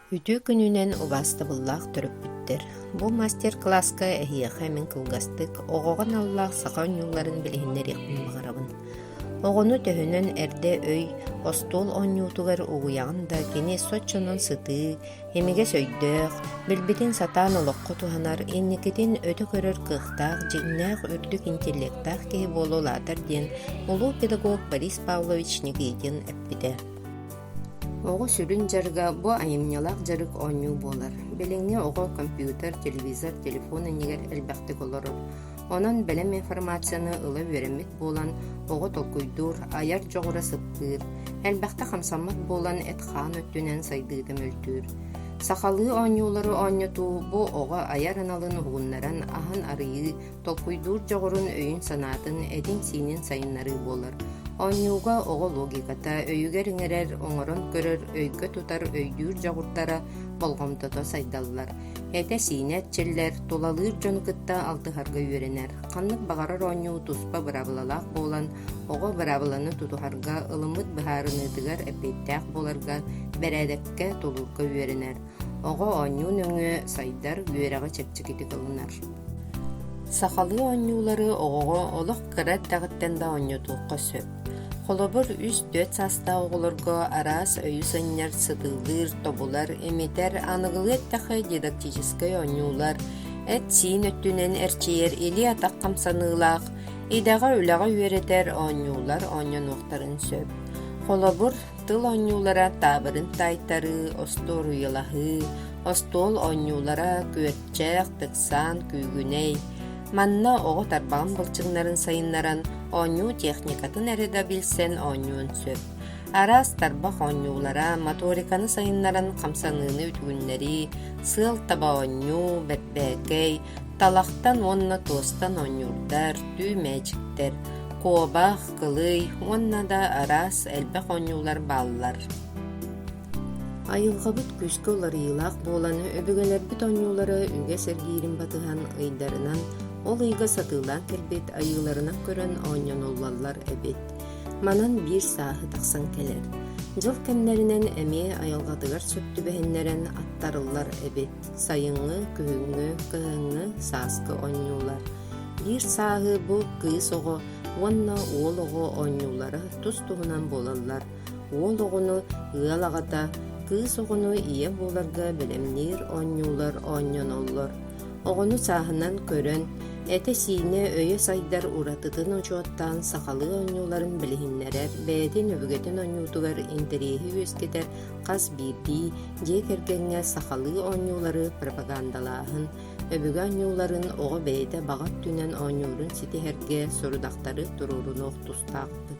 Үтүө күнүнэн убаастабыллаах төрөппүттэр! Бу мастер-класска эһиэхэ мин кылгастык оҕоҕо аналлаах саха оонньууларын билиһиннэриэхпин баҕарабын. Оҕону төһөнөн эрдэ өй, остуол оонньуутугар угуйаҕын да, кини соччонон сытыы, Имигэс өйдөөх, билбитин сатаан олоххо туһанар, инникитин өтө көрөр кыахтаах, дьиҥнээх үрдүк интеллектаах киһи буола улаатар диэн улуу педагог Борис Павлович Никитин эппитэ. Оҕо сүрүн дьарыга бу айымньылаах дьарык оонньуу буолар. Билиҥҥи оҕо компьютер, телевизор, телефон иннигэр элбэхтик олорор. Онон бэлэм информацияны ыла үөрэммит буолан, оҕо толкуйдуур, айар дьоҕура сыппыыр, элбэхтэ хамсаммат буолан эт-хаан өттүнэн сайдыыта мөлтүүр. Сахалыы оонньуулары оонньотуу бу оҕо айар аналын угуннаран аһын арыйыы, толкуйдуур дьоҕурун, өйүн-санаатын, этин-сиинин сайыннарыы буолар. Оонньууга оҕо логиката, өйүгэр иҥэрэр, оҥорон көрөр, өйгө тутар, өйдүүр дьоҕурдара болҕомтото сайдаллар. Этэ-сиинэ эрчиллэр, тулалыыр дьону кытта алтыһарга үөрэнэр. Ханнык баҕарар оонньуу туспа быраабылалаах буолан, оҕо быраабыланы тутуһарга, ылыммыт быһаарыныытыгар эппиэттээх буоларга, бэрээдэккэ тулуурга үөрэнэр. Оҕо оонньуу нөҥүө сайдар, үөрэҕи чэпчэкитик ылынар. Сахалыы оонньуулары оҕоҕо олох кыра эрдэҕиттэн да оонньотуохха сөп. Холобур, үс-түөрт саастаах оҕолорго араас өйү санньар, сытыылыыр, тобулар, имитэр, аныгылыы эттэххэ дидактическай оонньуулар, эт-сиин өттүнэн эрчийэр илии-атах хамсаныылаах, идэҕэ-үлэҕэ үөрэтэр оонньуулар оонньонуохтарын сөп. Холобур, тыл оонньуулара таабырын таайтарыы, остуоруйалаһыы, остуол оонньуулара күөрчэх, тыксаан, күүгүнэй, Манна оҕо тарбаҕын былчыҥнарын сайыннаран оонньуу техникатын эрэ да билсэн оонньуон сөп. Араас тарбах оонньуулара, моториканы сайыннаран хамсаныыны үтүгүннэрии, сыал таба оонньуу, бэрбээкэй, талахтан уонна туостан оонньуурдар, түү мээчиктэр, куобах, кылый уонна да араас элбэх оонньуулар бааллар. Айылҕабыт күүскэ уларыйыылаах буолан, өбүгэлэрбит оонньуулара үгэс эргиирин батыһан, ыйдарынан, ол ыйга сатыылаан кэлбит айыыларынан көрөн оонньонуллаллар эбит. Манан биир сааһы тахсан кэлэр. Дьыл кэмнэринэн эмиэ айылҕатыгар сөп түбэһиннэрэн аттарыллар эбит. Сайыҥҥы, күһүҥҥү, кыһыҥҥы сааскы оонньуулар. Биир сааһы бу кыыс оҕо уонна уол оҕо оонньуулара тус-туһунан буолаллар. Уол оҕону, ыал аҕата, кыыс оҕону ийэ буоларга бэлэмниир оонньуулар оонньоноллор. Оҕону сааһынан көрөн, этэ-сиинэ, өйө сайдар уратытын учуоттаан сахалыы оонньууларын билиһиннэрэр, бэйэтин өбүгэтин оонньуутугар интэриэһи үөскэтэр хас биирдии дьиэ кэргэҥҥэ сахалыы оонньуулары пропагандалааһын, өбүгэ оонньууларын оҕо бэйэтэ баҕа өттүнэн оонньуурун ситиһэргэ сорудахтары туруорунуох тустаахпыт.